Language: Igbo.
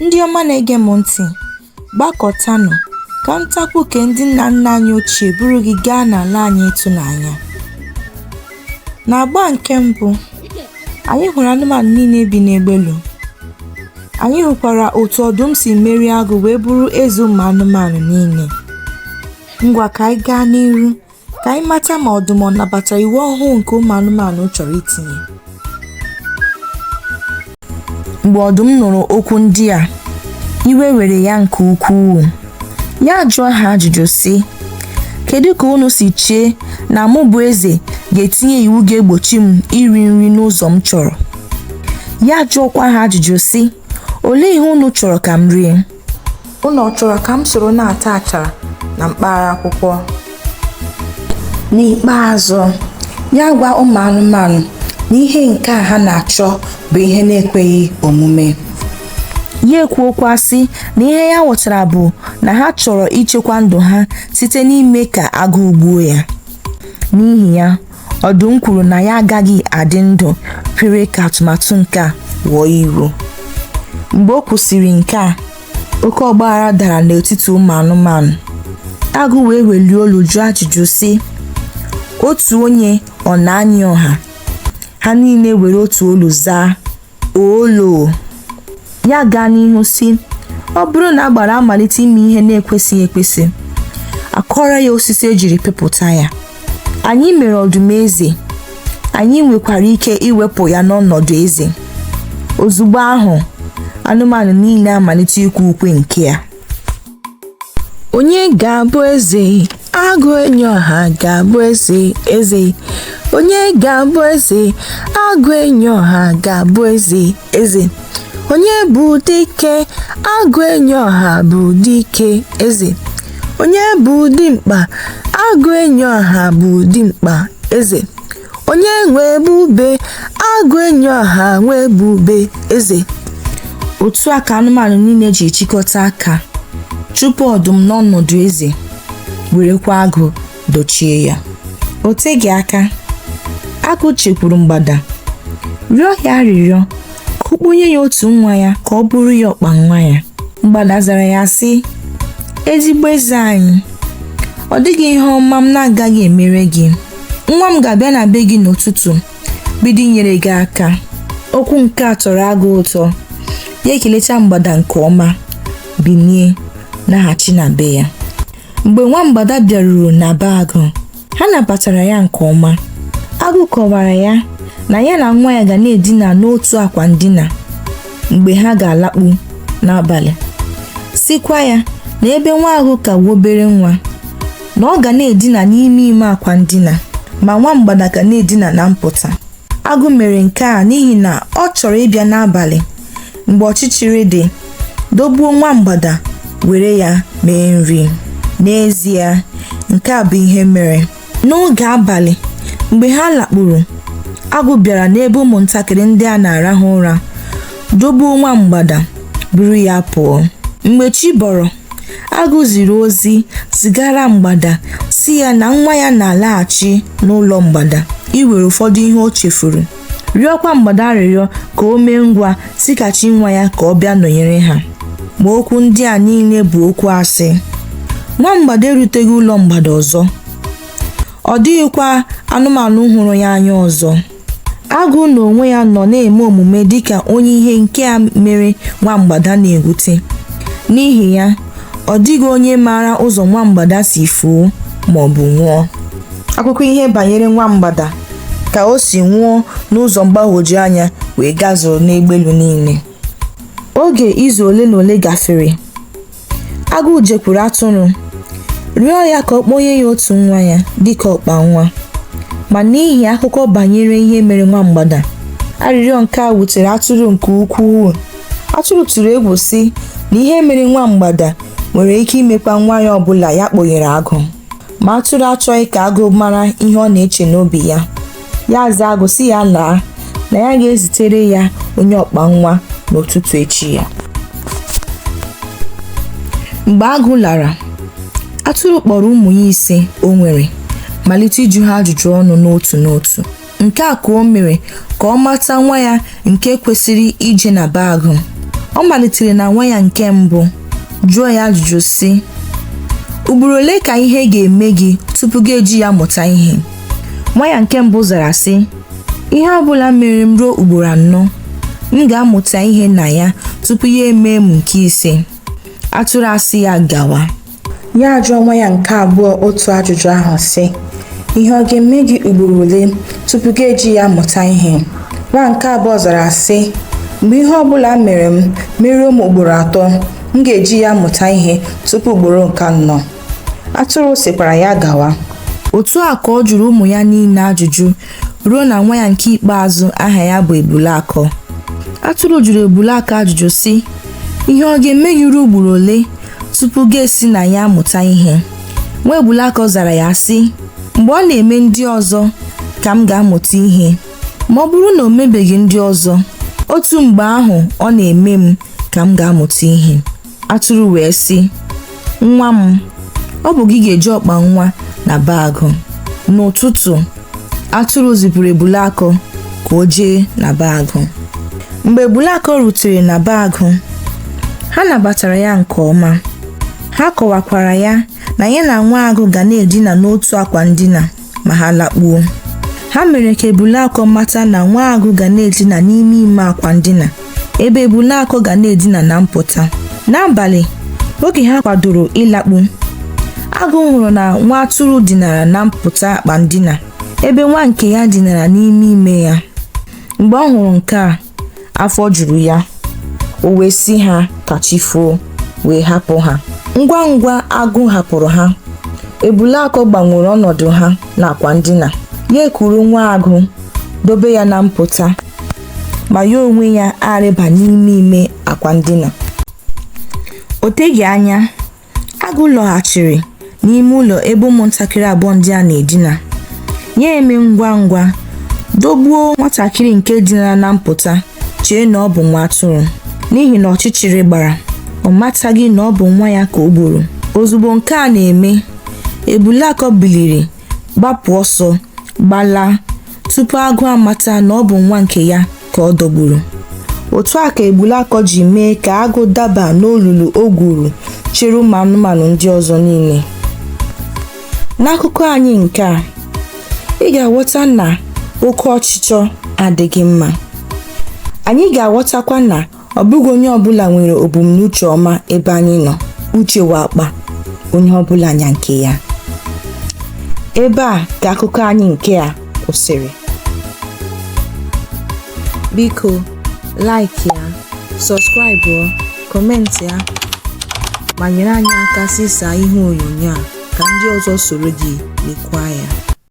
Ndị ọma na-ege m ntị, gbakọtanụ ka ntakwu nke ndị nna nna anyị ochie buru gị gaa n'ala anyị ịtụnanya. N'agba nke mbụ, anyị hụrụ anụmanụ niile bi n'Egbelu. Anyị hụkwara otu ọdụm si merie agụ wee bụrụ eze ụmụ anụmanụ niile. Ngwa ka anyị gaa n'iru ka anyị mata ma ọdụm ọ nabatara iwu ọhụụ nke ụmụ anụmanụ chọrọ itinye mgbe ọdụm nụrụ okwu ndị a iwe were ya nke ukwuu ya ajụọ ha ajụjụ sị kedu ka unu si chee na mụ bụ eze ga-etinye iwu ga-egbochi m iri nri n'ụzọ m chọrọ ya ajụọkwa ha ajụjụ sị Olee ihe unu chọrọ ka m rie? Unu chọrọ ka m soro na-ata achara na mkpara akwụkwọ? N'ikpeazụ, ya agwa ụmụ anụmanụ na ihe nke a ha na-achọ bụ ihe na-ekweghị omume. Ya ekwuokwa sị na ihe ya ghọtara bụ na ha chọrọ ichekwa ndụ ha site n'ime ka agụụ gbuo ya. N'ihi ya, Ọdụm kwuru na ya agaghị adị ndụ kwere ka atụmatụ nke a ghọọ iwu. Mgbe o kwusịrị nke a, oke ọgbaghara dara n'etiti ụmụ anụmanụ. Agụ wee welie olu jụọ ajụjụ sị, Otu onye ọ na-anyị ọha? Ha niile were otu olu zaa. olo ya agaa n'ihu sị ọ bụrụ na agbara amalite ime ihe na-ekwesịghị ekwesị a kọọrọ ya osisi e jiri pịpụta ya anyị mere ọdụm eze anyị nwekwara ike iwepụ ya n'ọnọdụ eze ozugbo ahụ anụmanụ niile amalite ikwe ukwe nke ya onye ga-abụ eze agụ enyi ọha ga-abụ eze eze onye ga-abụ eze agụ enyi ọha ga-abụ eze eze onye bụ dike agụ enyi ọha bụ dike eze onye bụ dimkpa agụ enyi ọha bụ dimkpa eze onye nwe ebube agụ enyi ọha nwe ebube eze otu a ka anụmanụ niile ji chịkọta aka chụpụ ọdụm n'ọnọdụ eze werekwa agụ dochie ya o teghị aka agụ jekwuru mgbada rịọ ya arịrịọ ka ọ kpọnye ya otu nwa ya ka ọ bụrụ ya ọkpa nwa ya mgbada zara ya sị ezigbo eze anyị ọ dịghị ihe ọma m na-agaghị emere gị nwa m ga-abịa na be gị n'ụtụtụ bido inyere gị aka okwu nke a tọrọ agụ ụtọ ya ekelecha mgbada nke ọma binie naghachi na be ya mgbe nwa mgbada bịaruru na be agụ ha nabatara ya nke ọma agụ kọwara ya na ya na nwa ya ga na-edina n'otu akwa ndina mgbe ha ga-alakpu n'abalị sịkwa ya na ebe nwa agụ ka obere nwa na ọ ga na-edina n'ime ime akwa ndina ma nwa mgbada ga na-edina na mpụta agụ mere nke a n'ihi na ọ chọrọ ịbịa n'abalị mgbe ọchịchịrị dị dogbuo nwa mgbada were ya mee nri n'ezie nke a bụ ihe mere n'oge abalị mgbe ha lakpuru agụ bịara n'ebe ụmụntakịrị ndị a na-arahụ ụra dogbuo nwa mgbada buru ya pụọ mgbe chi bọrọ Agụ ziri ozi zigara Mgbada sị ya na nwa ya na-alaghachi n'ụlọ Mgbada iwere ụfọdụ ihe o chefuru, rịọkwa Mgbada arịrịọ ka o mee ngwa zighachi nwa ya ka ọ bịa nọnyere ha. Ma okwu ndị a niile bụ okwu asị. Nwa Mgbada eruteghị ụlọ Mgbada ọzọ. Ọ dịghịkwa anụmanụ hụrụ ya anya ọzọ. Agụ n'onwe ya nọ na-eme omume dịka onye ihe nke a mere nwa mgbada na-ewute. N'ihi ya, ọ dịghị onye maara ụzọ nwa mgbada si fuo ma ọ bụ nwụọ. Akụkọ ihe banyere nwa mgbada ka o si nwụọ n'ụzọ mgbagwoju anya wee gazuru n'egbelu niile. Oge izu ole na ole gafere. agụ jekwuru atụrụ rịọ ya ka ọ kpọnye ya otu nwa ya dịka ọkpa nwa ma n'ihi akụkọ banyere ihe mere nwa mgbada arịrịọ nke a wutere atụrụ nke ukwuu atụrụ tụrụ egwu sị na ihe mere nwa mgbada nwere ike imekwa nwa ya ọbụla ya kpọnyere agụ ma atụrụ achọghị ka agụ mara ihe ọ na-eche n'obi ya ya aza agụ sị ya laa na ya ga-ezitere ya onye ọkpa nwa n'ụtụtụ echi ya mgbe agụ lara atụrụ kpọrọ ụmụ ya ise o nwere malite ịjụ ha ajụjụ ọnụ n'otu n'otu nke a ka o mere ka ọ mata nwa ya nke kwesịrị ije na be agụ ọ malitere na nwa ya nke mbụ jụọ ya ajụjụ sị ugboro ole ka ihe ga-eme gị tupu gị eji ya mụta ihe nwa ya nke mbụ zara sị ihe ọ bụla mere m ruo ugboro anọ m ga-amụta ihe na ya tupu ya emee m nke ise atụrụ asị ya gawa ya ajụọ nwa ya nke abụọ otu ajụjụ ahụ sị ihe ọ ga-eme gị ugboro ole tupu gị eji ya mụta ihe nwa nke abụọ zara sị mgbe ihe ọ bụla mere m meruo m ugboro atọ m ga-eji ya mụta ihe tupu ugboro nke anọ atụrụ sịkwara ya gawa otu a ka ọ jụrụ ụmụ ya niile ajụjụ ruo na nwa ya nke ikpeazụ aha ya bụ ebule akọ atụrụ jụrụ ebule akọ ajụjụ sị ihe ọ ga-eme gị ruo ugboro ole tupu gị esi na ya mụta ihe nwa ebule akọ zara ya sị mgbe ọ na-eme ndị ọzọ ka m ga-amụta ihe ma ọ bụrụ na o mebeghị ndị ọzọ otu mgbe ahụ ọ na-eme m ka m ga-amụta ihe Atụrụ wee sị, Nwa m, ọ bụ gị ga-eje ọkpa nwa na be agụ. N'ụtụtụ, atụrụ zipụrụ Ebule Akọ ka o jee na be agụ. Mgbe Ebule Akọ rutere na be agụ, ha nabatara ya nke ọma. Ha kọwakwara ya na ya na nwa agụ ga na-edina n'otu akwa ndina. ma ha lakpuo ha mere ka ebule akọ mata na nwa agụ ga na-edina n'ime ime akwa ndina ebe ebule akọ ga na-edina na mpụta n'abalị oge ha kwadoro ịlakpu agụ hụrụ na nwa atụrụ dinara na mpụta akwa ndina ebe nwa nke ya dinara n'ime ime ya mgbe ọ hụrụ nke a afọ juru ya o wee sị ha ka chi foo wee hapụ ha ngwa ngwa agụ hapụrụ ha ebule akọ gbanwere ọnọdụ ha n'akwa ndina ya ekuru nwa agụ dobe ya na mpụta ma ya onwe ya arịba n'ime ime akwa ndina o teghị anya Agụ lọghachiri n'ime ụlọ ebe ụmụntakịrị abụọ ndị a na-edina. Ya eme ngwa ngwa dogbuo nwatakịrị nke dinara na mpụta chee na ọ bụ nwa atụrụ n'ihi na ọchịchịrị gbara ọ mataghị na ọ bụ nwa ya ka o gburu. Ozugbo nke a na-eme, Ebule Akọ biliri gbapụ ọsọ gbalaa tupu agụ amata na ọ bụ nwa nke ya ka ọ dọgburu otu a ka ebule akọ ji mee ka agụ daba n'olulu o gwuru chere ụmụ anụmanụ ndị ọzọ niile n'akụkọ anyị nke a ị ga-aghọta na oke ọchịchọ adịghị mma anyị ga-aghọtakwa na ọ bụghị onye ọbụla nwere ebumnuche ọma ebe anyị nọ uche wụ akpa onye ọbụla nya nke ya ebe a ka akụkọ anyị nke a kwụsịrị biko like ya subscribe comment ya ma nyere anyị aka zisaa ihe onyonyo a ka ndị ọzọ soro gị lekwa ya